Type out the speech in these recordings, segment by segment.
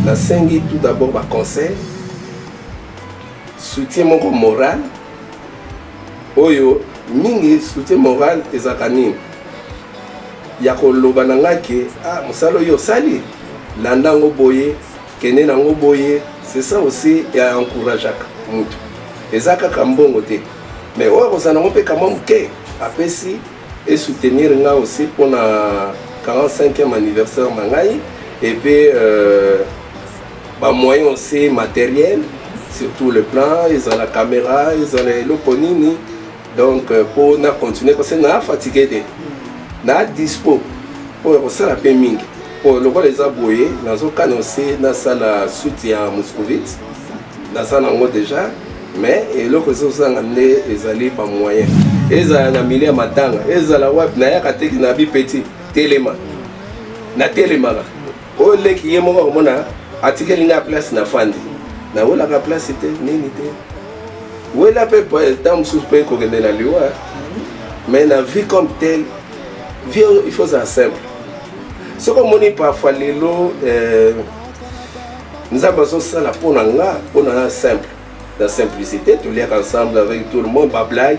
nasengi tout d'abord baconseil soutien moko moral oyo mingi soutien moral ezalaka nini ya koloba na ngai ke ah, mosala oyo osali landa yango boye kende na yango boye c'est ça aussi ya encourageaka motu eza kaka mbongo te mais oyo akozala nango mpe kamwa moke apesi e soutenir nga aussi pona 45e anniversaire na ngai et puis euh, ba moyen aussi matériel sur tout le plan ezala caméra ezala eloko nini donc mpo euh, na continuer parce que naa fatigue te naa dispo mpo ya kosala mpe mingi mpo lokola eza boye nazokana osi nasala suite ya moscovite naza nango déjà mais eloko esi ozanga nde ezali bamoyen ezala na milie ya matanga ezala wapi nayaka teki na bipeti telema natelemaka oyo leki ye moko akomona atikeli ngai place na fandi nawelaka place te nini te wela mpe ntango mosusu mpe kokende na liwa mais na vie comme tel vie il faut ozala simple soki omoni parfois lelo euh, nzambe azosala mpo na nga mpo na na simple na simplicité toliaka ensemble avec tout le monde bablague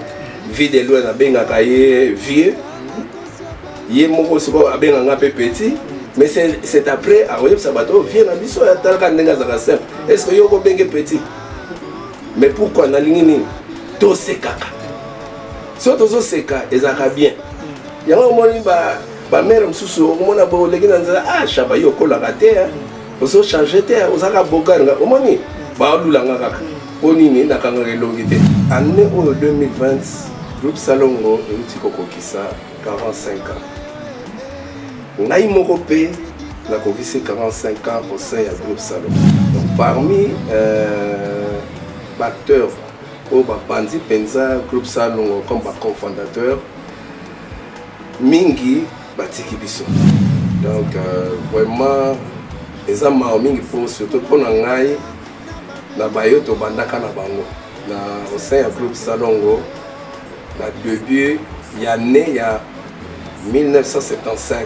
vie de loin nabengaka ye vieux ye moko sikoyo abenga nga mpe petit mais c'est après akoyebisa bato oyo vie na biso atalaka ndenge azalaka simple est ce que yo okobenge petit mais pourquoi nalingi nini tosekaka so tozoseka ezalaka bien yango omoni bamere mosusu okomona boleki na nzela ah shaba yo okolaka te ozo change te ozalaka bogar nga omoni balula nga kaka mpo nini nakangaka elongi te année oyo 2020 groupe salongo euti kokokisa 45 ans ngai moko mpe nakokisi 45 ans au sein ya groupe salongo donc parmi euh, baacteur oyo bapanzi mpenza groupe salongo comme baconfondateur mingi batiki biso donc euh, vraiment eza mawa mingi mpo surtout mpo na ngai na bayo tobandaka na bango na osein ya groupe salongo na debut ya ne ya 1975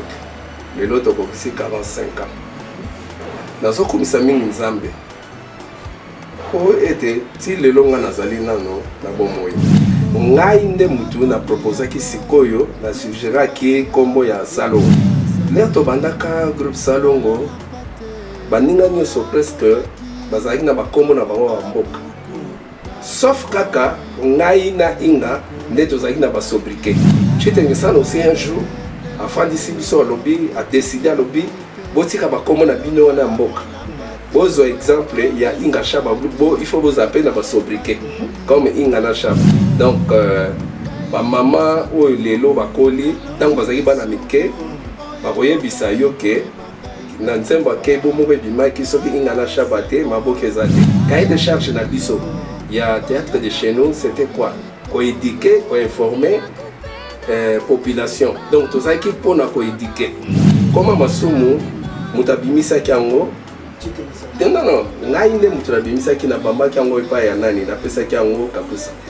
lelo tokokisi 45 ans nazokumisa mingi nzambe mpo ete ti lelo ngai nazali nano na bomoi ngai nde motu na proposaki sikoyo na sugeraki nkombo ya salongo lere tobandaka groupe salongo baninga nyonso presque bazalaki na bankombo na bango ya mboka Sauf kaka ngai na Inga nde tozalaki na ba sobriquet. Chitengesana aussi un jour afandisi biso alobi a décider alobi botika bakombo na bino wana ya mboka bozwa exemple ya Inga Shaba bo il faut bozala mpe na ba sobriquet comme Inga na Shaba donc euh, bamama oyo lelo bakoli ntango bazalaki bana mike bakoyebisa yo ke na nzembo ya kebo moko ebimaki soki inga na shaba te maboke eza te cahier de charge na biso ya théâtre de chez nous c'était quoi koéduke koinforme euh, population donc tozalaki mpona koéduke koma masumu moto abimisaki yango te nono ngai nde moto nabimisaki nabambaki yango epai ya nani napesaki yango kakusa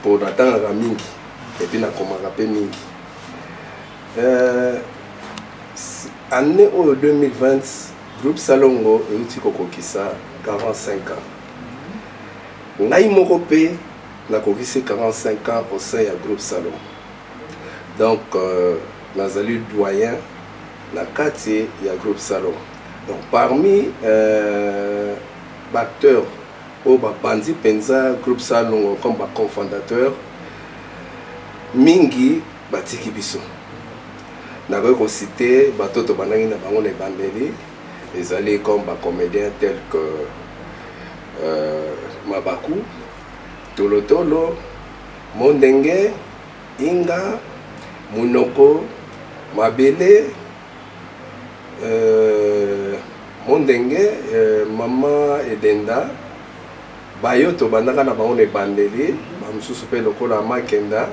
mpo natangaka mingi epuis nakomaka mpe mingi euh, année oyo 2020 groupe salongo euti kokokisa 45 ans ngai moko mpe nakokisi 45 ans au sein ya groupe salongo donc euh, nazali doyen na kati ya groupe salongo donc parmi euh, baacteurs oyo bapanzi mpenza groupe salongo comme baconfondateur mingi batiki biso nakoki kosite bato tobandaki na bango na ebandeli ezali comme bacomédien tel que euh, mabaku tolotolo mondenge inga monoko mabele euh, mondenge euh, mama edenda bayo tobandaka na bango na ebandeli bamosusu mpe lokola makenda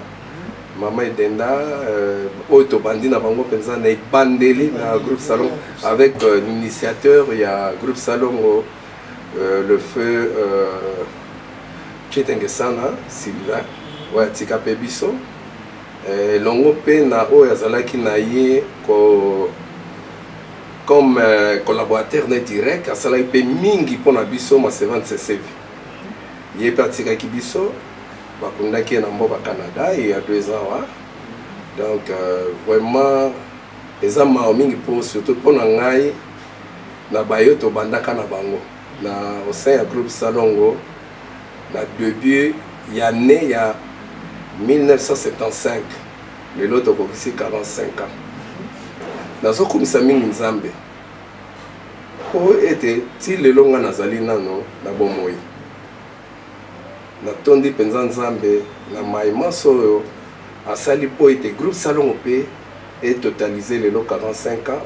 mama edenda euh, oyo tobandi na bango mpenza na ebandeli na groupe salon avec euh, l'initiateur ya groupe salongo euh, le feu euh, Chitenge Sana, Sylvain, ouais, Tika Pebiso. eh, elongo mpe na oyo azalaki na ye ko comme euh, collaborateur ne direct asalaki mpe mingi mpo na biso masevan sesevi ye mpe atikaki biso bakundaki ye na mboka canada ye ya deux ans wa donc euh, vraiment eza mawa mingi mpo surtout mpo na ngai na bayo tobandaka na bango na au sein ya groupe salongo Na debut ya annee ya 1975 lelo tokokisi 45 ans nazokumisa mingi nzambe mpo ete ti lelo ngai nazali nano na bomoi natondi mpenza nzambe na mai manso oyo asali mpo ete groupe salongo mpe etotalise lelo 45 ans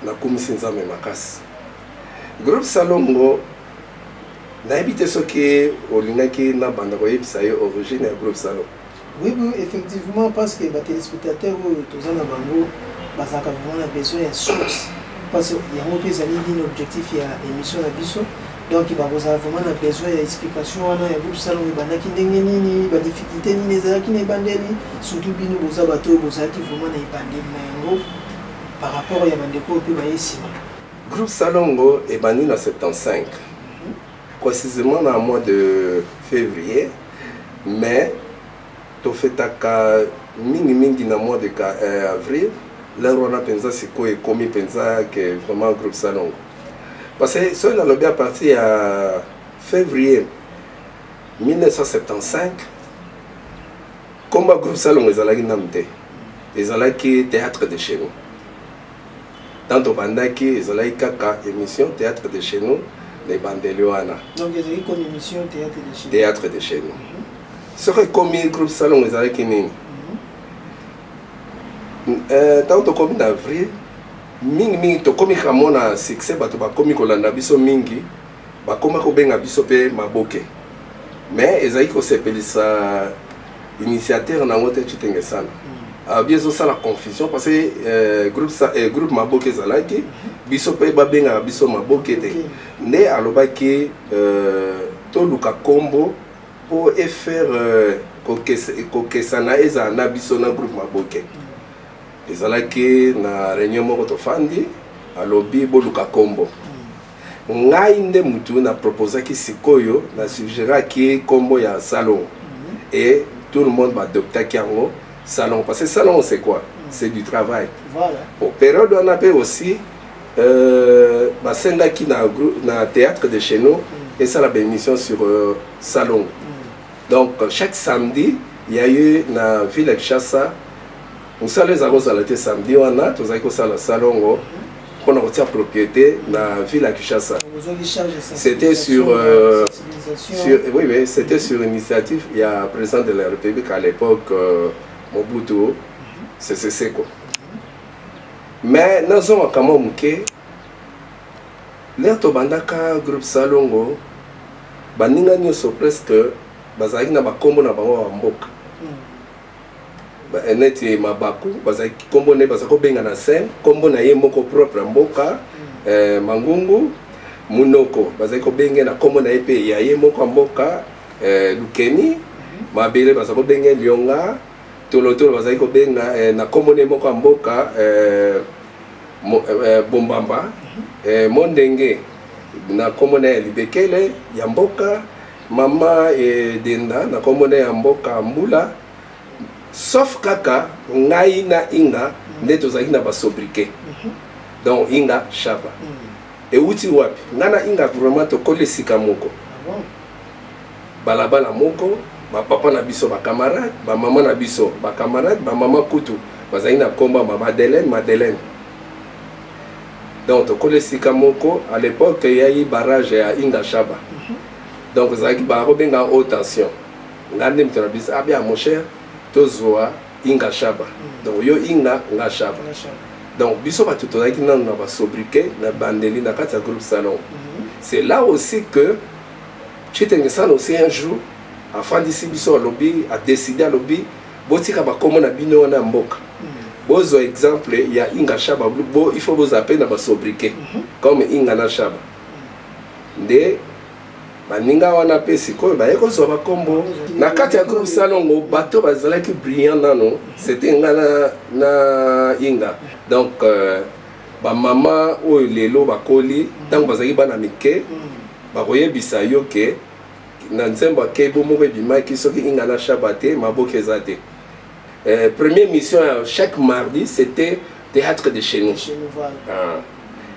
nakumisi nzambe makasi groupe salongo nayebi te soki olingaki nabanda koyebisa ye origine ya groupe salon oui oui effectivement parce que batelespectateur oyo toza na bango bazalaka vraiment na besoin ya source parce yango mpe ezali nini objectif ya émission na biso donc bakozala vraiment na besoin ya explication wana ya groupe salon ebandaki ndenge nini badifficulté nini ezalaki na ebandeli surtout bino boza bato oyo bozalaki vraiment na ebandeli na yango par rapport ya bandeko oyo mpe baye nsima Groupe Salongo ebandi na 75 précisément na mois de février mais tofetaka mingimingi na mois de euh, avril lere wana mpenza sikoyo ekomi mpenza ke vraiment groupe salongo parce que soki nalobi à partir ya février 1975 komba groupe salongo ezalaki nanu te ezalaki théâtre de chez nous tant tobandaki ezalaki kaka émission théâtre de chez nous na ebandeli wana théâtre de chez nous mhm. soki ekomi groupe salongo ezalaki nini mhm. euh, ntango tokomi na avril mingimingi tokomi kamona succès bato bakomi kolanda biso mingi Bakoma kobenga biso mpe maboke me ezali kosepelisa initiateur na yango te citenge sana hmm. alobi ah, ezosala confusion parce que euh, groupe, euh, groupe maboke ezalaki hmm. biso mpe babengaka biso maboke te nde alobaki euh, toluka nkombo mpo efaire euh, kokesana ezala na biso na groupe maboke hmm. ezalaki na réunion moko tofandi alobi boluka nkombo ngai nde mutu na proposaki sikoyo na sugeraki kombo ya salongo mhm. et tout le monde badoptaki yango salongo parce que salongo c'est quoi mhm. c'est du travail voilà. po période wana mpe aussi euh, basengaki na, na théâtre de chez nous mhm. esala baémission sur euh, salongo donc chaque samedi il y a eu na ville ya kinshasa mosala ezalaki kozala te samedi wana tozalaki kosala salongo mpo na kotia propriété na ville ya kinshasa c'était sur, euh, sur oui, oui, c'était sur initiative ya président de la république à l'époque euh, mobutu mhm. sese seko mais nazongaka mwa moke lere tobandaka groupe salongo baninga nyonso presque bazalaki na bakombo na bango ya mboka neti mabaku bazalaki nkombo na ye baza kobenga na scène nkombo na ye moko propre ya mboka mm. eh, mangungu munoko bazali kobenge na nkombo na ye mpe ya ye moko ya mboka eh, lukeni mm. mabele baza kobenge lionga tolotolo bazali kobenga eh, na nkombo na ye moko ya mboka eh, mo, eh, bombamba mm. eh, mondenge na nkombo na ye ya libekele ya mboka mama edenda na kombo na ya mboka mbula sauf kaka ngai na inga mm. nde tozalaki na basobrike mhm. donc inga shaba mm. euti wapi ngai na inga vraiment tokoli esika moko ah balabala moko bapapa na biso bacamarade bamama na biso bacamarade bamama kutu bazali na nkomba ma madeleine madeleine donc tokola esika moko à l'époque eyaki barrage ya ingashaba mhm. donc ezalaki bakobenga haute tension nga nde moto na biso abia ah, mon cher tozwa inga shaba mm. donc yo inga nga shaba donc biso bato tozalaki nano na basobrike na bandeli na kati ya groupe salon mm-hmm. c'est là aussi que chitengesana aussi un jour afandisi biso alobi adeside alobi botika bakombo na bino wana ya mboka bozwa exemple ya inga shaba bo il faut bozala mpe na basobrike mhm. comme inga na shaba nde baninga wana mpe sikoyo baye kozwa bakombo na kati ya groupe salongo bato bazalaki brillant nano c'était nga na, na inga donc euh, bamama oyo lelo bakoli ntango bazalaki bana mike mhm. bakoyebisa yo ke na nzembo ya kebo moko ebimaki soki inga na shaba te maboke eza te euh, première mission ya chaque mardi c'était théâtre de chez nous, chez nous voilà. ah.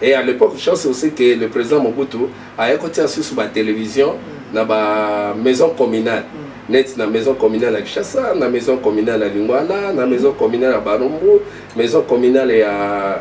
et à l'époque chance aussi que le président mobutu aya kotia susu batélévision mm. na bamaison communale mm. neti na maison communale ya kinshasa na maison communale ya lingwala na maison communale ya barumbu maison communale ya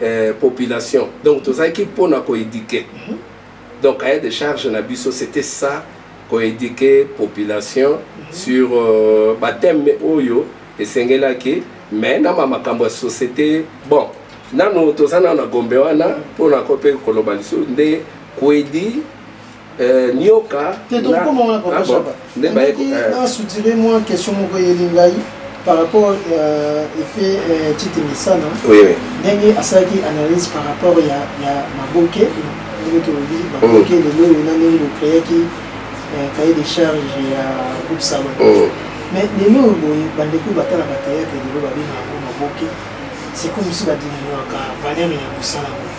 eh, population donc tozalaki mpo na koéduke mhm. donc cahier de charge na biso c'était ça koéduke population mhm. sur euh, bathème oyo esengelaki mais na makambo ya société bon nanu toza nano na gombe wana mpo na ko mpe koloba lisusu nde kwedi Euh, nioka nasutire ah mwa question moko eyeli ngai par rapport euh, effet euh, tite misana ndenge asalaki analyse par rapport ya maboke ndenge tolobi maboke mm. lelo oyo na ndenge bocreaki cahier de charge ya groupe salon mm. mais lelo oyo boye bandeko batala bateyate lelo babengaka yango maboke c'est comme si badiminuaka valeur ya mosala boye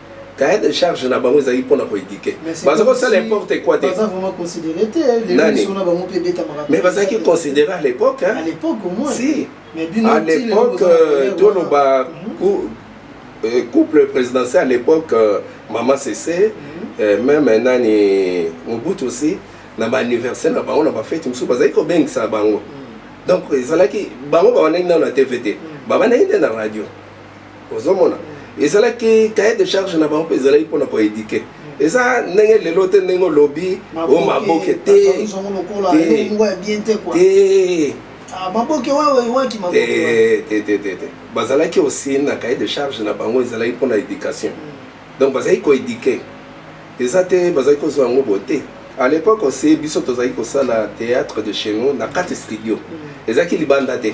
cahier de charge na bango ezali mpona koedike baza kosala importe quoi te mais bazalaki considéré à l'époque si à l'époque euh, toloba mhm. euh, couple présidentiel à l'époque euh, mama sese mhm. même nani mobutu aussi na baanniversaire na bango na bafete mosusu bazalaki kobengisa bango mhm. donc ezalaki bango bawanaki nano na tv te babandaki nde na radio ozomona ezalaki cahier de charge na bango mpe ezalaki mpona koedike eza ndenge lelo te ndenge olobi o maboke te te bazalaki osi na cahier de charge na bango ezalaki mpona éducation mm. donc bazalaki koedike eza te bazalaki kozwa yango bo te à l'époque osi biso tozalaki kosala théâtre de chez nous na kati studio mm. ezalaki libanda te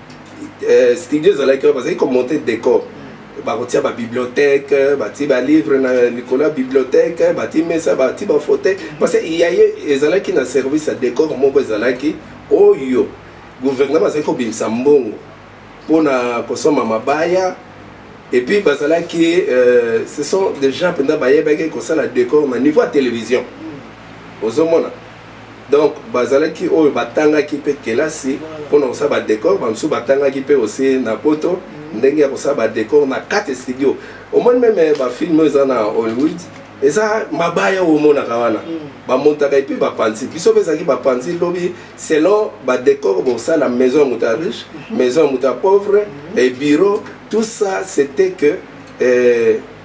eh, studio ezalaki wana bazalaki komonte décor mm. bakotia babibliothèque batie balivre na likolo ya bibliothèque batie mesa batie bafauteuil mm. parce que yaye ezalaki na service ya décor moko ezalaki oyo gouvernement azalaki kobimisa mbongo mpona kosomba mabaya et puis bazalaki euh, ce sont des gens mpenza bayebaki kosala décor na niveau ya télévision mm. ozomona donc bazalaki oyo batangaki mpe kelasi mpona kosala badecor bamosusu batangaki mpe osi na poto mm. ndenge ya kosala badecor na kati studio omoni meme eh, bafilme eza na hollywood eza mabaya oyo omonaka wana mm. bamontaka epuis bapanzi biso mpe ezalaki bapanzi lobi selon badecor bosala maison ya moto ya riche mm-hmm. maison ya moto ya pauvre mm-hmm. ebiro tout ça c'était que eh,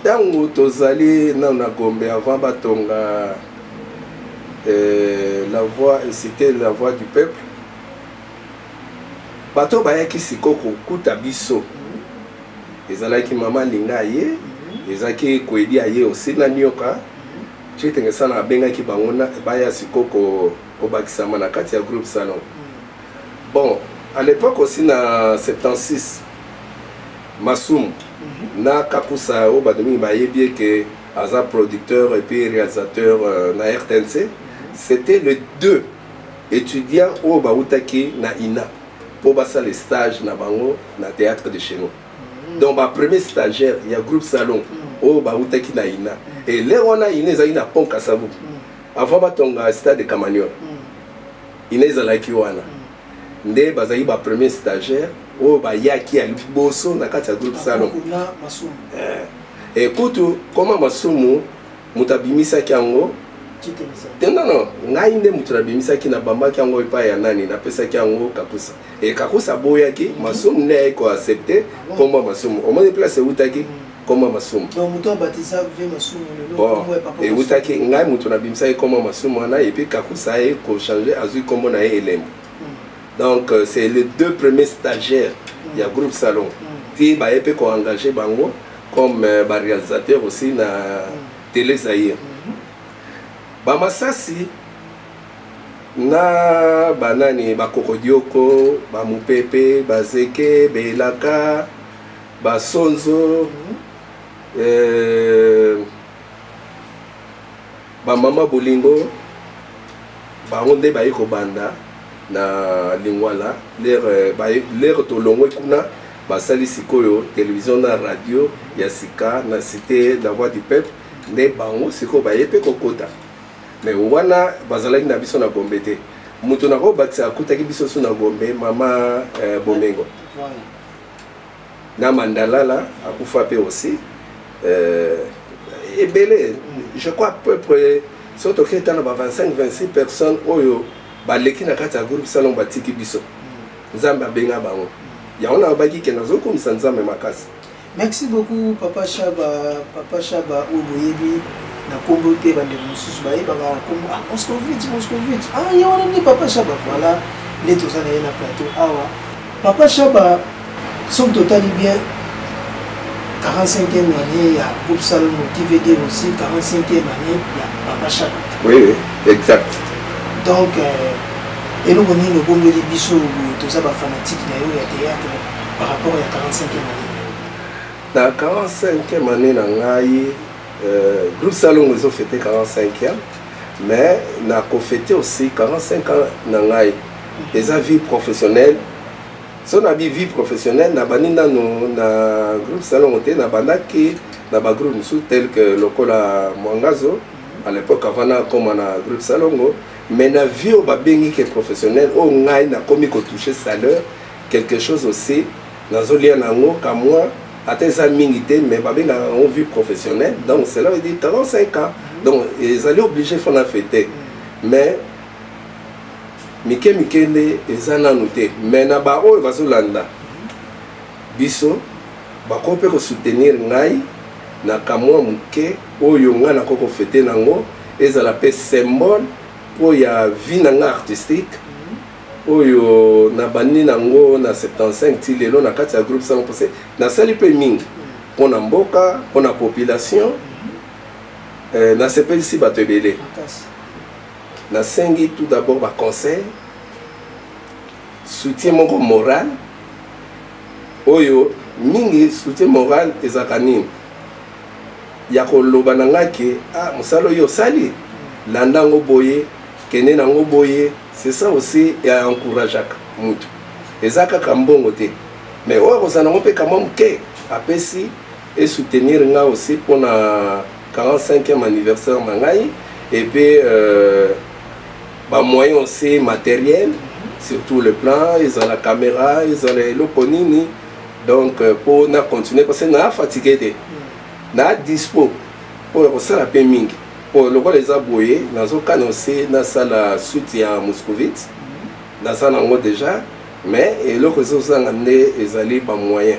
ntango tozali nano na gombe avant batonga euh, la voix cité la voix du peuple bato bayaki sikoyo kokuta biso ezalaki mama linga ye mhm. ezalaki koyedi aye osi na nioka mhm. cetenge sana abengaki bango baya sikoyo kobakisama na kati ya groupe salon mhm. Bon, à l'époque aussi na 76 Masumu mhm. na Kakusa oyo bato mingi bayebi eke aza producteur et puis réalisateur euh, na RTNC. Mhm. C'était les deux étudiants oyo bautaki na INA mpo basala stage na bango na théâtre de chez nous. Mhm. Donc ba premier stagiaire ya groupe Salon oyo bautaki na INA. Et lelo wana INA ezalaki na Pont Kasavu. Avant batonga stade de Camagnon. ina ezalaki wana nde bazalaki ba premier stagiaire oyo bayaki ya liboso na kati ya groupe salon ekutu eh, koma masumu moto abimisaki yango te nono ngai nde moto nabimisaki nabambaki yango epai ya nani napesaki yango kakusa e kakusa aboyaki masumu nde ayaki koaccepte nkombo ya masumu omoni place eutaki mm. nkombo ya masumu ewutaki ngai moto nabimisaki nkombo ya masumu wana epuis kakusa ye kochange azwi nkombo na ye elembo hmm. donc euh, c'est les deux premiers stagiaires hmm. ya groupe salon hmm. ti baye mpe koengage bango comme euh, baréalisateur aussi na télé zaire bamasasi na banani bakokodioko bamopepe bazeke belaka ba sonzo euh, ba mama bolingo bango nde baye kobanda na lingwala lere euh, tolongwe kuna basali sikoyo televizio na radio ya sika na cité la voix du peuple nde bango sikoyo baye mpe kokota me wana bazalaki na biso na gombe te moto nakobakisa akutaki biso so na gombe mama eh, bomengo na mandalala akufa pe aussi euh, ebele je crois peu près soki toki ata na ba 25 26 personnes oyo baleki na kati ya groupe salon batiki biso nzambe abenga bango yango nalobaki ke nazokomisa nzambe makasi merci beaucoup papa shaba papa shaba oyo boyebi na nkombo te bandeko mosusu bayebaka na nkombo ah moscovite moscovite ah ye wana nde papa shaba voilà nde toza na ye na plateau awa Papa Shaba, soki totali bien 45e année ya groupe Salongo qui veut dire aussi 45e année ya Papa Shaba. Oui, oui, exact. Donc euh, eloko nini obongeli biso boye toza bafanatike na yo ya théâtre par rapport ya 45e année na 45e année na ngai euh, groupe salongo ezo fete 45e mais na kofete aussi 45 ans na ngai eza vie professionnelle so na bi vie professionnelle nabandi nano na groupe salongo te nabandaki na bagroupe mosusu tel que lokola mwangazo à l'époque avant nakoma na groupe salongo mais na vie oyo babengi ke professionnel oyo ngai nakomi kotouche salaire quelque chose aussi nazolia na yango kamwa ata eza mingi te mais babengaka yango vie professionnelle donc cela veut dire 45 ans donc ezali obligé fo na fete mais mike mike nde eza nanu te me na baoyo bazolanda biso bakoki mpe kosoutenir ngai na kamwa moke oyo ngai nakoki kofete nango ezala mpe symbole mpo ya vie na ngai artistique oyo nabandi nango na 75 ti lelo na kati ya groupe sango mpose nasali mpe mingi mpo na mboka mpo na population eh, nasepelisi bato ebele nasengi tout d'abord ba conseil soutien moko moral oyo mingi soutien moral ezalaka nini ya koloba na ngai ke ah, mosala oyo osali landa yango boye kende na yango boye c'est ça aussi ya encourageaka motu eza kaka mbongo te mais oyo akozala yango mpe kamwa moke apesi esoutenir ngai aussi mpona 45e anniversaire na ngai et puis euh, ba moyen aussi matériel surtout le plan ezala caméra ezala eloko nini donc euh, mpo na continuer parce que na fatigue te na dispo mpo ya kosala mpe mingi mpo lokola eza boye nazokana ose nasala suite ya moscovite naza nango déjà mais eloko ezozanga nde ezali bamoyen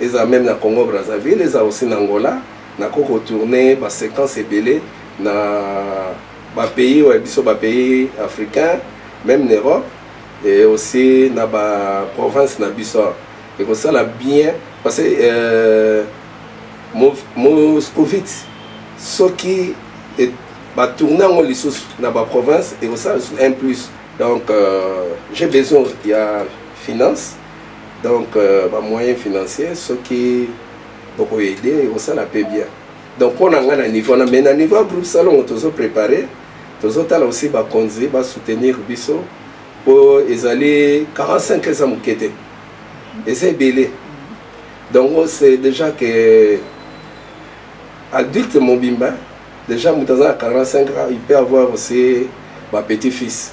eza meme na congo brazzaville eza aussi na angola nako kotourne baséquence ebele na bapays oyo biso bapays africain meme na europe et aussi na baprovince na biso ekosala bien parce que euh, moscovite soki batourne yango lisusu na baprovince ekosala lisusu un plus donc euh, j'ai besoin ya finance donc euh, ba moyen financier soki boko aide ekosala mpe bien donc mpo na ngai na niveau wana mais na niveau ya groupe salongo tozo prépare tozotala aussi bakonzi basoutenir biso mpo ezali 45 eza moke te eza ebele donc on sait déjà que adulte mobimba déjà moto aza na 45 ans il peut avoir aussi ba petit fils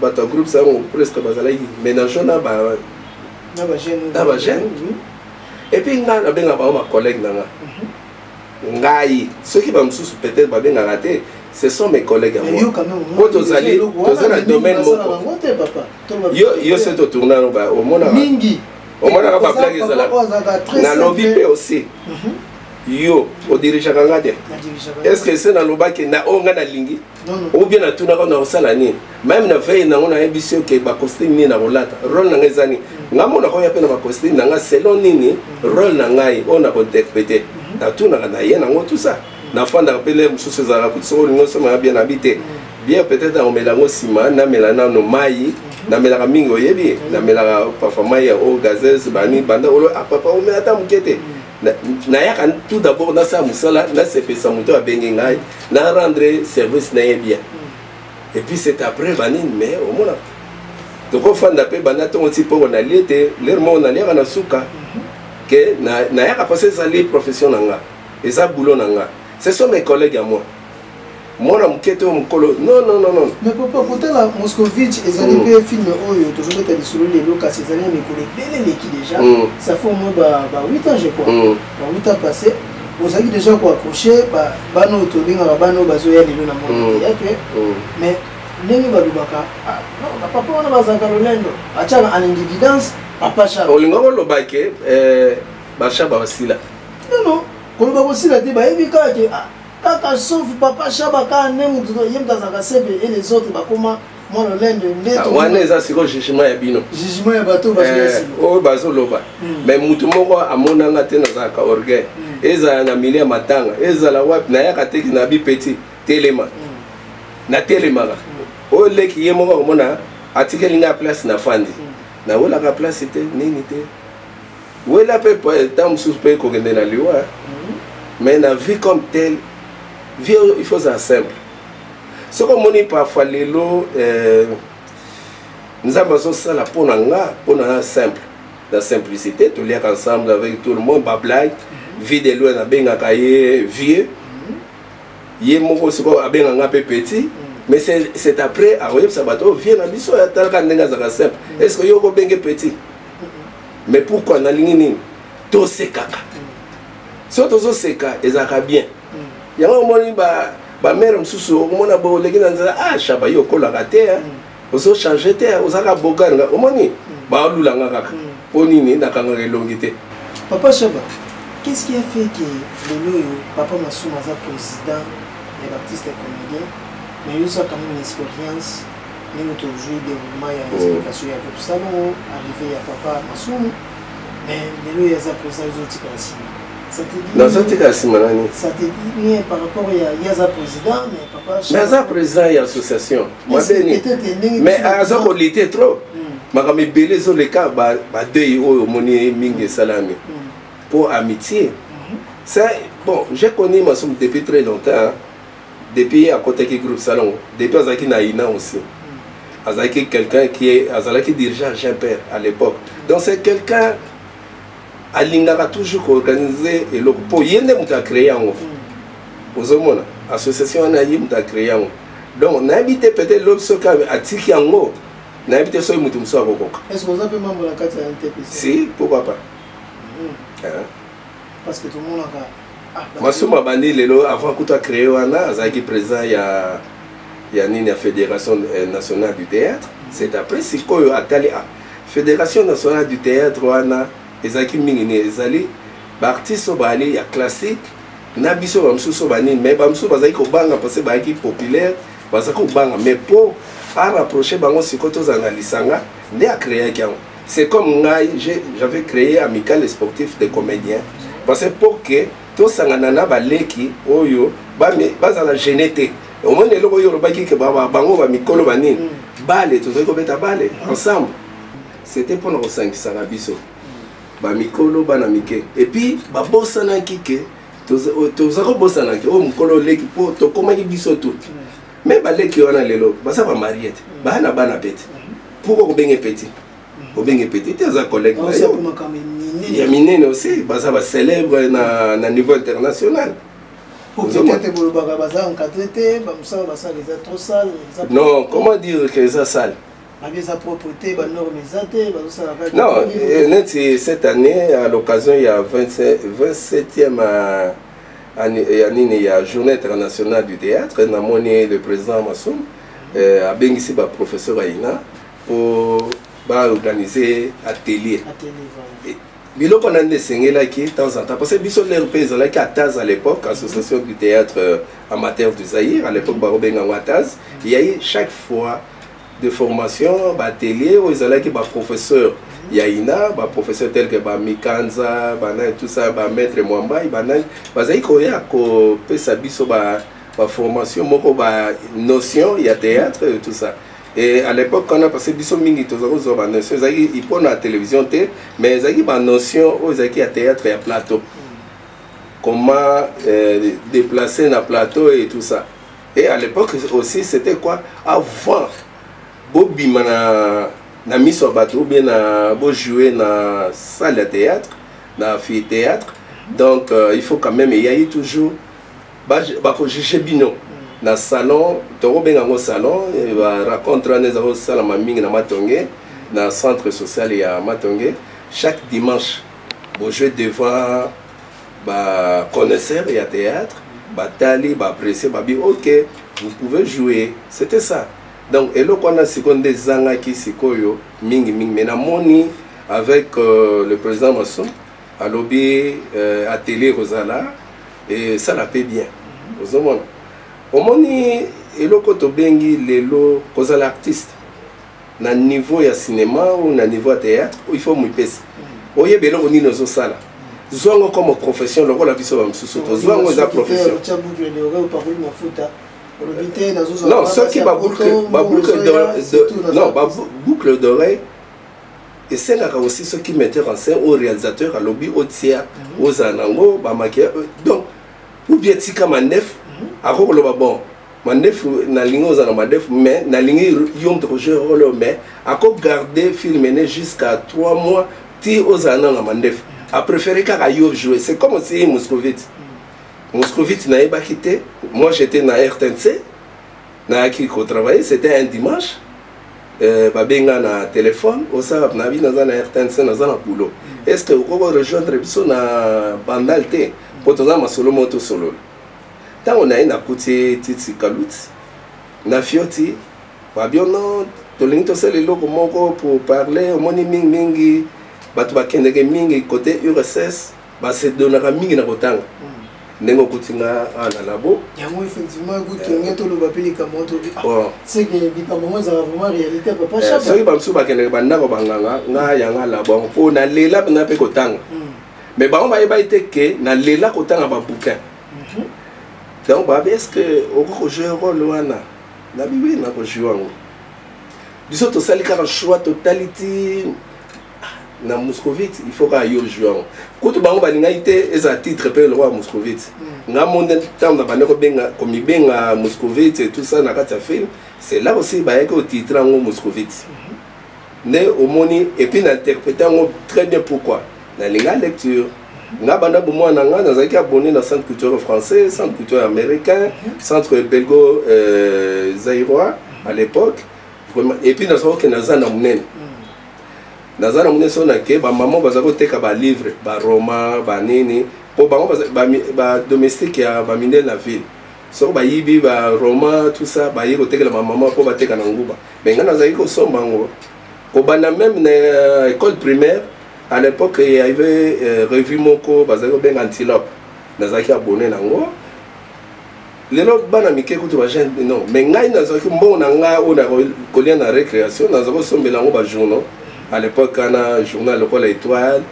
bato ya groupe sango presque bazalaki ménage na ba na ba jeune na ba jeune et puis nga na benga ba ma collègue na nga mhm. ngai soki ba mususu peut-être ba benga la te ce sont mes collègues à moi po tozali toza na domaine moko yo yo se totourna no ba omonaka mingi omonaka ba blague ezala na lobby pe aussi mhm. yo odirijaka nga te est ce que se nalobaki na oyo nga nalingi ou bien natunaka nakosala nini meme na veille nango nayebisi oke bacostume nini nakolata role na ngai eza nini mm. ngai monaka oya mpe na bacostume na ngai selon nini mm. role na ngai oyo nakointerprete mm-hmm. natunaka na ye nango tout ça mm. nafandaka mpe le mosusu ezalaka kuti soko olingi osomaka bien abi te bien peut-être nakomela yango nsima namela nano mai mm-hmm. namelaka mingi oyebi namelaka parfois mai ya eau gazeuse bani banda olo apapa ah, omela ata moke te nayaka tout d'abord nasala mosala nasepesa moto abengi ngai na rendre service na ye bien et puis c'est après banini mais omona tokofanda mpe banda ntongo nti mpongo nalie ete lere moko naliaka na suka ke nayaka mposa ezali profession na nga eza boulot na nga ce sont mes collègues à moi mwana moke te oyo mokolo nonnono mais papa kotala moscovitch ezali mpe mm. filme oyo tozobeta lisolo lelo kasi ezali na mikolo ebele eleki déjà mm. ça fait au moins ba 8 ans je crois mm. ba 8 ans passé ozalaki déjà koaccroche bana oyo tobengaka bana oyo bazoya lelo na moni yake mais ndenge balobaka ah, bapapa wana bazalaka lolendo atyaka en individence papa char olinga koloba ke eh, bashaba basila nono koloba kosila te bayebi kaka ke ah, kaka sauf papa shaba kaka nde motu ye moto azalaka sebe e les autres bakoma mwa lolendo nde ah, wana eza sikoyo jugement ya bino jugement ya bato eh, oyo bazoloba hmm. mais motu moko amonanga te nazalaka orgueil hmm. ezala na milie ya matanga ezala wapi nayaka teki na bipeti telema hmm. natelemaka oyo leki ye moko akomona atikeli ngai place na fandi nawelaka place te nini te wela mpe ntango mosusu mpe kokende na liwa mhm. mais na vie comme tel vie oyo il faut ozala simple soki omoni parfois lelo eh, nzambe azosala mpo na nga mpo na nga simple na simplicité toliaka ensemble avec tout le monde bablague mhm. vie de loin nabengaka ye vieux mhm. ye moko sikoyo abenga nga mpe petit mais c'est après akoyebisa bato oyo vie na biso atalaka ndenge azalaka simple est ce que yo okobenge petit mais pourquoi nalingi nini tosekaka so tozoseka ezalaka bien mm. yango omoni bamere mosusu omona bo oleki na nzela ah shaba yo okolaka te mm. ozochange te ozalaka bogarnga omoni mm. baolulanga kaka mpo nini nakangaka elongi te papa shaba qu'est-ce qui a fait que lelo oyo papa masuma aza président ya baptiste comédien mais yo oza quand même expérience ndenge tozwi deroulement ya explication ya kopesa bango arrive ya papa masumu mais lelo ye aza président ezotikala nsima naza tika nsima nani naza président ya association mabeni mais aza kolite trop makambo ebele ezoleka badei oyo omoni mingi esalami mpo amitié ça bon j'ai connu masumu depuis très longtemps depuis ye akotaki groupe salongo depuis azalaki na ina aussi azalaki quelqu'un qui est azalaki dirigeant jean père à l'époque donc c'est quelqu'un alingaka toujours koorganiser eloko mpo ye nde moto acreye yango ozomona association wana ye moto acreye yango donc nayebi te peut-être lobi soki atiki yango nayebi te soki moto mosusu akokoka si pourquoi pas hmm. hein? parce que tomonaka ah, masumu abandi lelo avant kuta créé wana azalaki président ya ya nini ya fédération euh, nationale du théâtre c'est après sikoyo atali ah, fédération nationale du théâtre wana ezalaki mingi nini ezali baartiste oyo baali ya classique na biso bamosusu banini mais bamosusu bazalaki kobanga parce bayaki populaire bazalaki kobanga mais mpo arapproche bango sikoyo tozala na lisanga nde akreaki yango C'est comme ngai, j'avais créé Amical Sportif des Comédiens. Parce que pour que tout ça, nanana, baleki, oyo, bazala gêné te. Au moins, les locaux, ils ont dit que bango, ba mikolo, ba nini. Mm. Bale, tout ça, ils ont balé, ensemble. C'était pour nos 5 sanabiso. Ba mikolo, ba namike. Et puis, ba bossana kike, tout ça, tout ça, bossana kike, oh, mikolo, leki, po, tokomaki biso tout. Mm. me baleki wana lelo baza bamarie te baya na bana pete pourkua kobenge peti obenge peti te aza collègue na yo ya minene aussi baza bacélèbre na, na niveau international non comment dire que eza sale non neti cette année à l'occasion ya 27e ya nini ya journée internationale du théâtre namoni le président masum euh, abengisi baprofesseur aina mpo baorganize atelier biloko nani esengelaki temps en temps parce que biso lere mpe ezalaki ataz à l'époque association du théâtre euh, amateur du zaïre à l'époque bakobenga yango ataz yaye chaque fois de formation ba atelier oyo ezalaki ba professeur ya ina ba professeur tel que ba mikanza banani tout ça ba maître mwambai banani bazalaki koya kopesa biso ba ba formation moko ba notion ya théâtre tout ça et à l'époque wana parce que biso mingi toza kozwa ba notion ezalaki ipo na télévision te mais ezalaki ba notion oyo ezalaki ya théâtre ya plateau comment euh, déplacer na plateau et tout ça Et à l'époque aussi, c'était quoi Avant, bobima na, na miso ya bato obie na bojoue na salle ya théâtre na amphithéâtre donc euh, il faut quand même eyai toujours bakojuge bino na salon tokobenga yango salon baracontre wana eza kosalama mingi na matonge na centre social ya matonge chaque dimanche bojoue devant ba connaisseurs ya théâtre batali ba apprécier babi ok vous pouvez jouer c'était ça donc eloko wana sikoyo nde ezangaki sikoyo mingi mingi mais namoni avec euh, le président mason alobi euh, atelier ekozala esala mpe bien ozomona omoni eloko tobengi lelo kozala artiste na niveau ya cinéma ou na niveau ya théâtre il faut omipesa oyeba eloko nini ozosala zwa yango comme profession lokola biso bamosusu tozwa yango eza profession non soki baboucle d'oreille esengaka aussi soki metteur en scène oyo réalisateur alobi otia mhm. ozala nango bamakia euh, donc ou bien tika manef mhm. akoki koloba bon mandefu nalingi ozala madefu mais nalingi yo moto kojoue role oyo mais ako garde film ene jusqu'à 3 mois ti ozala nano na mandefu apréféré kaka yo joue c'est comme osi moscovite moscovite nayebaki te moi j'étais na rtnc nayaki kotravaille c'était un dimanche euh, babenga na téléphone osala na bi naza na rtnc naza na boulot est ce que okoki rejoindre biso na bandal te mpo toza masolo moko tosolola ntango naye nakuti ye titi kaluti na fioti babiono tolingi tosala eloko moko pour parler omoni mingi mingi bato bakendeke mingi kote urss basedonaka mingi na kotanga ndenge okuti nga awa na labo yango effectivement ekutonge toloba mpe likambo tobi seke likambo yango ezala vraiment réalité papa soki bamosusu bakendeke bandako banganga nga yanga labo yango mpo nalela mpenza mpe kotanga mais bango bayebaki te ke nalela kotanga babouquin mhm. donc babi est ce que okoki kojoue role wana nabi wi nakojoue yango biso tosali kaka choix totali ti ah, na moscovite il faut kaka yo joue yango kutu bango balingaki te ezala titre mpe lokola moscovite mm. nga monde ntango na bande kobenga komibenga moscovite tout ça na kati ya film c'est là aussi bayaki otitre yango moscovite mm -hmm. nde omoni epuis na interprete yango très bien pourquoi nalinga lecture nga banda bomwana na nga nazalaki abonné na centre culturel français centre culturel américain centre belgo euh, zairois à l'époque vraiment epuis nazalaki okende naza na monene naza na monene so nake bamama bazali koteka balivre baroma banini mpo bango badomestique ya bamindele na ville soki bayibi baroma tout ça baye kotekela bamama mpo bateka na nguba me ngai nazalaki kosomba yango kobanda meme na euh, école primaire à l'époque il y avait euh, revue moko bazali kobenga antilope nazalaki abonné na yango lelo bana mike kutu bajeune non mais ngai nazalaki mbongo na ngai oyo na kolia na récréation nazalaki kosombela yango bajournaux à l'époque wana journal lokola étoile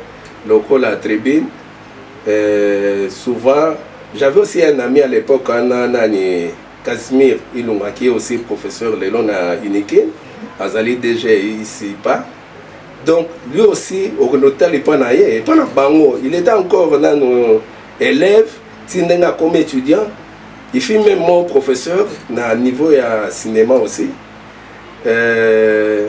lokola tribune euh, souvent j'avais aussi un ami à l'époque wana nani Casimir Ilunga qui est aussi professeur lelo na Unike azali DG ici pas donc lui aussi okende otali mpo na ye mpo na bango il était encore nano élève ti ndenge akomi étudiant il fit même mon professeur na niveau ya cinéma aussi euh,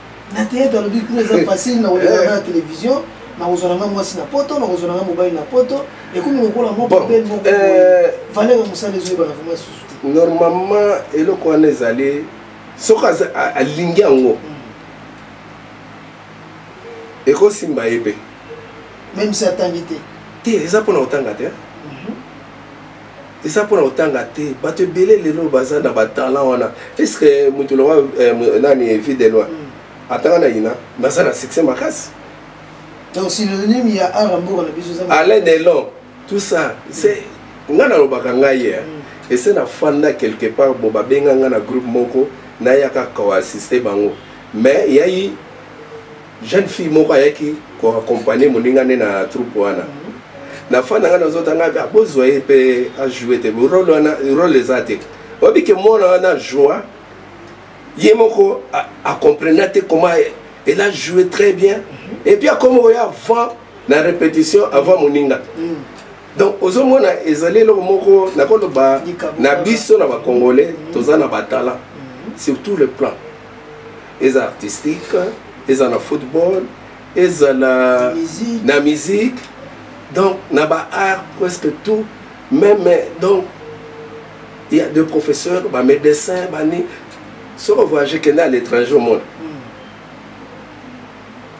na teyete alobi kuna eza facile na koleka na télévision nakozwa nanga mwasi na poto nakozwa nanga mobali na poto ekomi lokola moko pe moko valeur ya mosala ezoyebana vraimen lisusu te normalement eloko wana ezali soki alingi yango mm. ekosimba ye mpe même si atangi te te eza mpona kotanga te mhm. eza mpona kotanga te bato ebele lelo baza na batalent wana eske moto longa eh, nani vie de loi mm. atanga na yina baza na succès makasi donc synonyme ya ara mboka na biso alain delon tout ça c'est nga nalobaka ngai ye mm. ese nafanda quelque part bo babenga nga na groupe moko nayaka koassiste bango mais yai jeune fille moko ayaki ko accompagner moninga nde na troupe wana na fan nanga nazota ngai ah, bozwa ye mpe ajoue te role wana role eza te oyebi ke mwana wana joa ye moko acomprena te comment elle a joué très bien et puis akomi oya avant na répétition avant moninga mm. donc ozomona ezali eloko moko nakoloba na biso na bacongolais mm. toza na batala mm. surtout le plan eza artistique eza na football ezala na musique donc na ba art presque tout même donc il y a deux professeurs ba médecins bani soko voyage kende à l'étranger au monde hmm.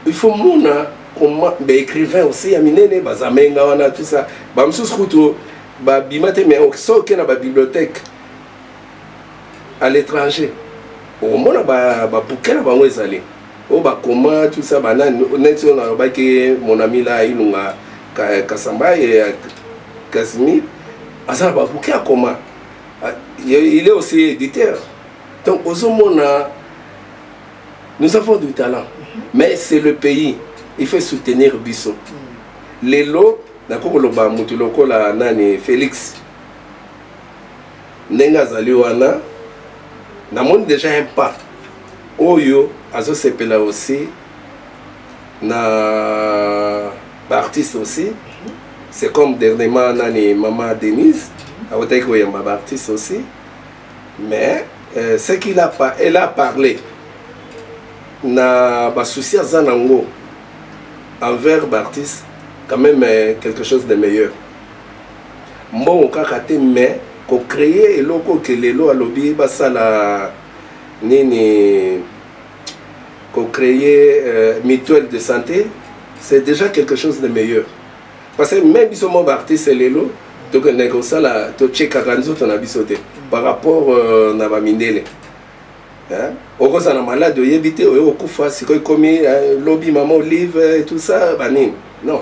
il faut mona comment ba écrivain aussi ya minene bazamenga wana tout ça bamosusu kutu babima te mais soki okenda babibliothèque à l'étranger okomona babuke na bango ezali oyo bakoma tout ça banani neti oyo nalobaki mon ami la ilunga kasamba ya casimir aza na babuke akoma ah, il est aussi éditeur donc ozomona nous avons du talent mhm. mais c'est le pays il faut soutenir biso mhm. lelo nakoki koloba motu lokola nani félix ndenge azali wana namoni déjà un pas oyo azosepela aussi na baartiste aussi c'est comme dernièrement nani mama denise awutaki koyamba baartiste aussi mais euh, ce qu'il a, elle a parlé na basusi aza nango envers baartiste quand même euh, quelque chose de meilleur mbongo kaka te mais ko créer eloko ke lelo alobi basala nini ko créer euh, mutuelle de santé c'est déjà quelque chose de meilleur parce que même biso moko baartiste lelo tokendeke kosala tochekaka nzoto na biso te par rapport euh, na bamindele okozala malade oyebi te oyo okufa sikoyo ekomi euh, lobi mama olive tout ça banini non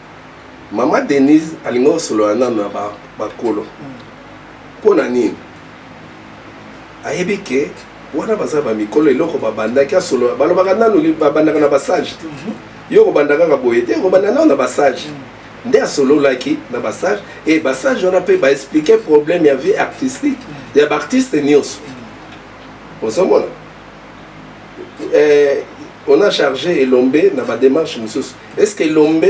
mama denise alingi osolola nano na bakolo mpo na nini ayebi ke wana baza bamikolo eloko babandaki asolola balobaka nano babandaka na basage te mhm. yo kobanda kaka boye te kobanda nano na basage mhm. nde asololaki na basage e basage wana mpe baexplike problème ya vie artistique mhm. ya baartiste nyonso ozomona eh, on a chargé elombe na badémarche mosusu est ce que elombe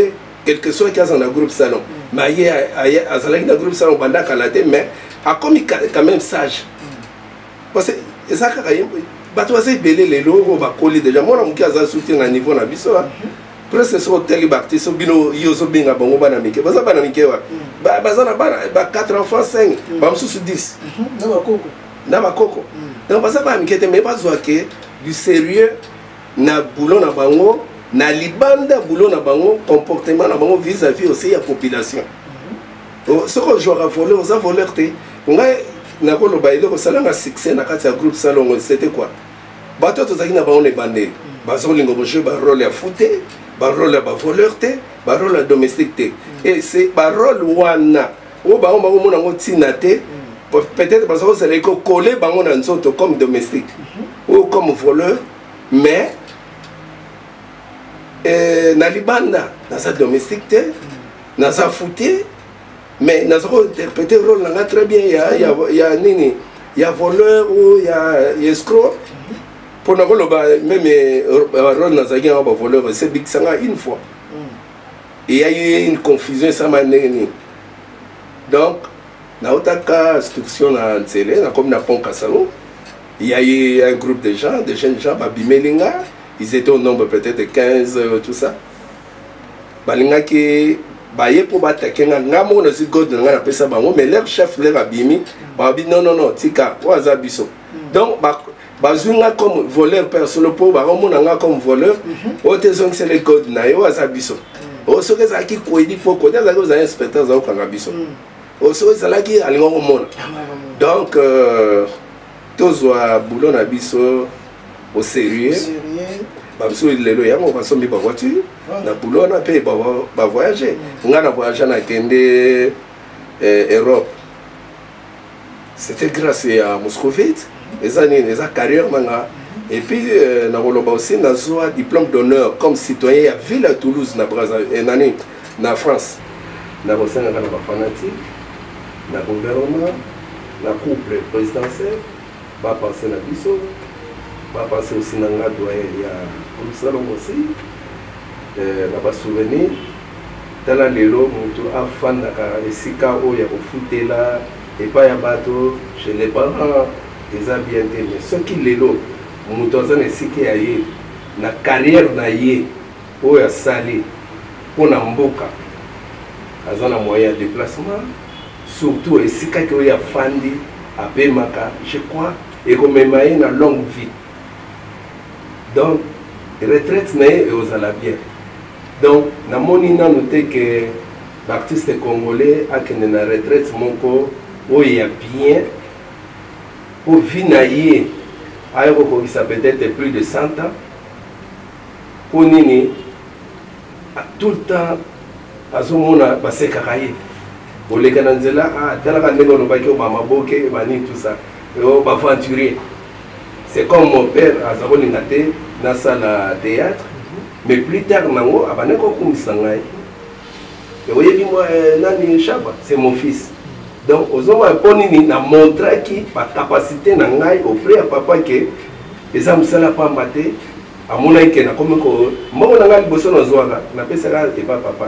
quelque soit aza na groupe salon mm. mais aye azalaki na groupe salon banda kala te mais akomi quand même sage mm. parce que eza kaka ye bato baza ebele lelo oyo bakoli déjà mwana moke aza soutien na niveau na biso ah. mm-hmm. presque soki otali baartiste so bino yo ozobenga bango bana mike baza bana mike wapi mm. baza na bana ba 4 enfants 5 bamosusu 10 na bakoko mm. donc baza bana mike te mais bazwa ke du sérieux na boulot na bango na libanda boulot na bango comportement na bango vis à vis aussi ya population mm-hmm. oh, soki ojwaka voleur oza voleur te ngai nakoloba eloko osala na succès na kati ya groupe salongo c'était quoi bato tozalaki na bango na ebandeli mm. bazolinga bojoue barole ya fou te barole ya bavoleur te barole ya domestique te mm. e se barole wana oyo bango bakomona yango ntina te peut-être baza kozala ekokole bango na nzoto comme domestique mhm. ou comme voleur mais eh, na libanda naza domestique te naza foutie mais naza kointerprete role na nga très bien ya, ya, ya nini ya voleur ou ya, ya escroc mpo mhm. nakoloba meme eh, role nazalaki yango bavoleur esebikisa nga une fois il y a eu une confusion esama ndenge nini donc nautaka instruction na nzele nakomi na pont kasalo il y a eu un groupe de gens de jeunes gens babimeli nga ils étaient au nombre peut-être de 15 euh, tout ça balingaki baye mpo batake nga nga moko nazwi god na nga napesa bango mais leur chef leur abimi babi non non non tika oyo aza biso mm. donc bazwi nga comme voleur mpe ya solo mpo bakomona nga comme voleur mhm. oyo te ezongisela ekode na ye oyo aza biso mhm. oyo soki ezalaki koyedi mpo kode azalaki ozala inspecteur aza kokanga biso mhm. oyo soki ezalaki alinga komona donc euh, tozwa boulot na biso au sérieux bamosusu lelo yango basombi bavoiture na boulot wana mpe bavoyage ngai na voyage nakende eh, europe c'était grâce ya moscovite eza nini eza carrière na nga et puis euh, nakoloba aussi nazwa diplôme d'honneur comme citoyen ya ville ya toulouse na braza eh, nani na france nakosengaka na bafanatike na gouvernement na couple présidentiel Ba penser na biso ba penser aussi na nga doyen ya groupe salongo aussi euh, na ba souvenir tala lelo mutu afandaka esika oyo ya kofutela epai ya bato chez les parents eza bien te mais soki lelo moto aza na esika ya ye na carrière na ye oyo asali mpo na mboka aza na moyen ya déplacement Surtout esika ke oyo afandi apemaka je crois ekomema ye na longue vie donc retraite na ye ekozala bien donc namoni nanu te ke baartiste congolais akende na retraite moko oyo ya bien mpo vi na ye aye kokokisa peut-être plus de 100 ans mpo nini tout le temps azomona basekaka ye oleka na nzela ah, talaka ndenge olobaki oba maboke ebani tout ça oh, baventurier c'est comme mon père aza kolinga te nasala théâtre mais plus tard nango abandi kokumisa ngai oyebi mwa eh, nani shaba c'est mon fils donc ozomona mpo nini na montraki bacapacité na ngai auprès ya papa ke eza mosala pamba te amonaki ke nakomi ko mbongo na ngai liboso nazwaka napesaka epa papa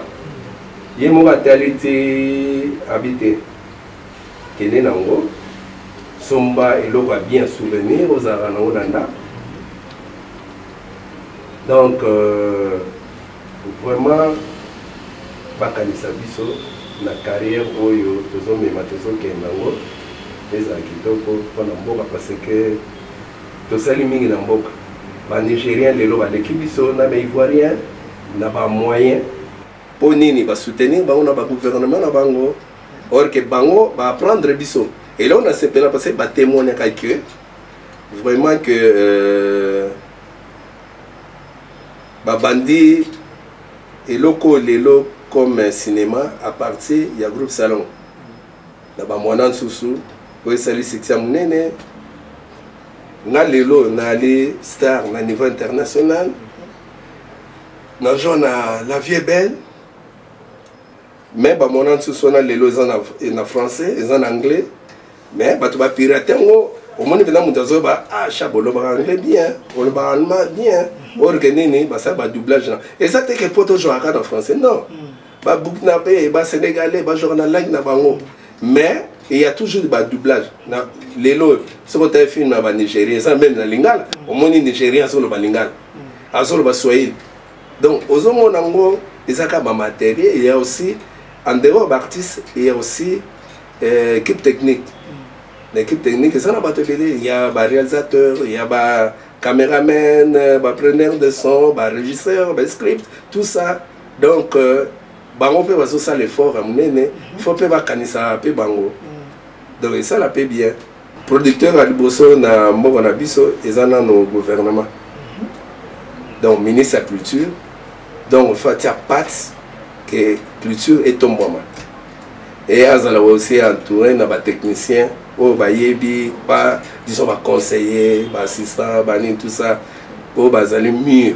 ye moko atali ti abi te kende na yango somba eloko ya bien souvenir ozalaka na yango na ndako donc euh, vraiment bakanisa biso na carrière oyo tozomema tozokende yango ezala kitoko mpo na mboka parce que Tosali mingi na mboka. Ba nigeriens lelo baleki biso na ba ivoiriens na ba moyens. Po nini ba soutenir bango na ba gouvernement na bango or que bango ba apprendre biso? Eloko na sepela parce que ba temoignaka que vraiment que euh, ba bandi eloko lelo comme cinéma à partir ya groupe salon. na bamwana nsusu oyo esali succès monene nga lelo naali star na niveau international nazo na la vie belle mais bamona nsusu wana lelo eza na, na français eza na anglais mais bato bapirate yango omoni mpena moto azoyeba asha ah, bolobaka anglais bien olobaka allemand bien orke nini basala badoublage na eza te ke po tozwaka na français non mm. ba burkinabé ba sénégalais ba jouaka na langue na bango mais il y a toujours ba doublage na lelo oyo soki otaye film ya banigérien eza meme na lingala omoni nigérien azoloba lingala azoloba swahili donc ozomona yango eza kaka bamaterie il y a aussi en dehors baartiste il y a aussi euh, équipe technique na équipe technique eza na bato ebele il y a baréalisateur il y a ba cameraman bapreneur de son barégisseur bascript tout ça donc euh, bango mpe bazosala effort ya monene mhm. fo mpe bakanisaka mpe bango mhm. donc esala mpe bien producteur ya liboso na mboka na biso eza nano gouvernement mhm. donc ministre ya culture donc fa tia pate ke culture etombwama eye azala aussi entouré na batechnicien oyo bayebi ba disons baconseiller baassistant banini tout ça oyo bazali mur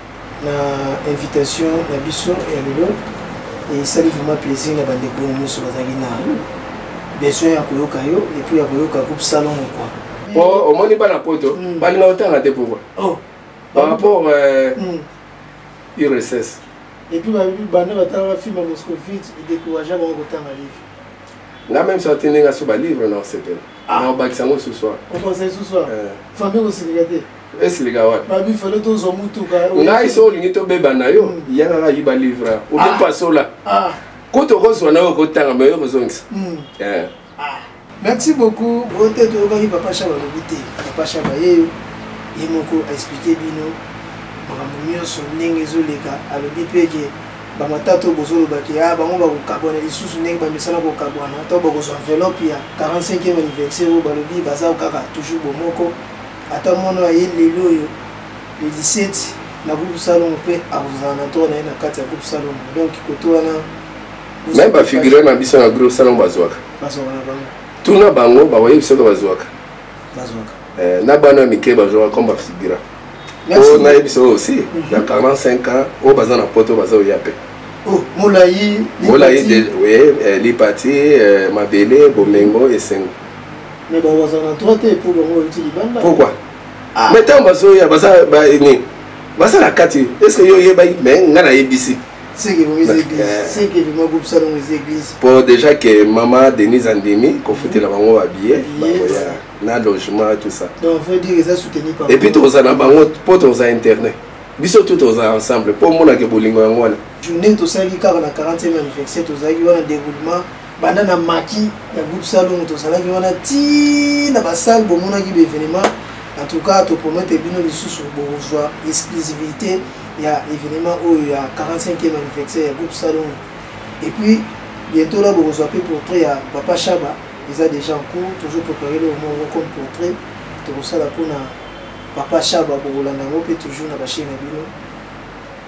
na invitation na biso ya lelo esali vraiment plaisir na bandeko oyo nyonso bazalaki na besoin ya koyoka yo epuis ya koyoka groupe salongo kua po omoni bana poto mm. balinga otanga te pourkui oh. par rapport euh, mm. urss epuis banda batalaka film ya moscovite edécouragea bango kotanga livre nga même soki ndenge aso balivre na osepela na obakisa yango suswa okosa suswa famille kosilika te esilika wapi babi fale tozwa motuka ngai so olingi tobeba na yo mm. yanga kaki balivra obipasola ah. ah. kutu okozwa na yo okotanga me yo kozongisa mm. eh. ah. merci beaucoup ote toyokaki papa shaba alobi te papa shaba yeyo ye moko aexplike bino makambo nyonso ndenge ezoleka alobi mpe ke bamatata oyo bozolobaki a bango bakokabwana lisusu ndenge bamesana kokabwana to bakozwa enveloppe ya 45e anniversaire oyo balobi baza kaka toujours bomoko Ata mwana wa ye lelo oyo le 17 na groupe Salongo mpe akozala na tour na ye na kati ya groupe Salongo. Donc koto wana même ba figure na biso na groupe Salongo bazwaka. Bazwaka na bango. Tuna bango ba waye biso bazwaka. Bazwaka. Eh, na bana mike bazwaka comme ba figure. Oh, na yebisa oyo aussi mhm. na 45 ans oyo baza na poto baza oya mpe Oh, molayi molayi lipati eh, eh, mabele bomengo esengo mais bango bazala na droit te mpo bango bauti libanda pourquoi ah. mais ntango bazoya baza nini baza na kati estce yo oyebaki mais ngai nayebisi po déjà ke mama denise andimi kofutela bango babillet bakoya na logement tout ça epuis tokozala na bango mpo tokozala internet biso tout tozala ensemble mpo omonake bolingo yango wana journée tosali kaka na 40e anniversaire tozalaki wana déroulement banda na maki na groupe salongo tozalaki wana ti na basale bomonaki baevenement en tout cas topromete bino lisusu bokozwa exclusivité ya événement oyo ya 45e anniversaire ya groupe salongo et puis bientôt là bokozwa mpe portrait ya papa shaba eza déjà en cours toujours préparé le moko comme portrait tokosala mpona papa shaba bokolanda yango mpe toujours na bachaine na bino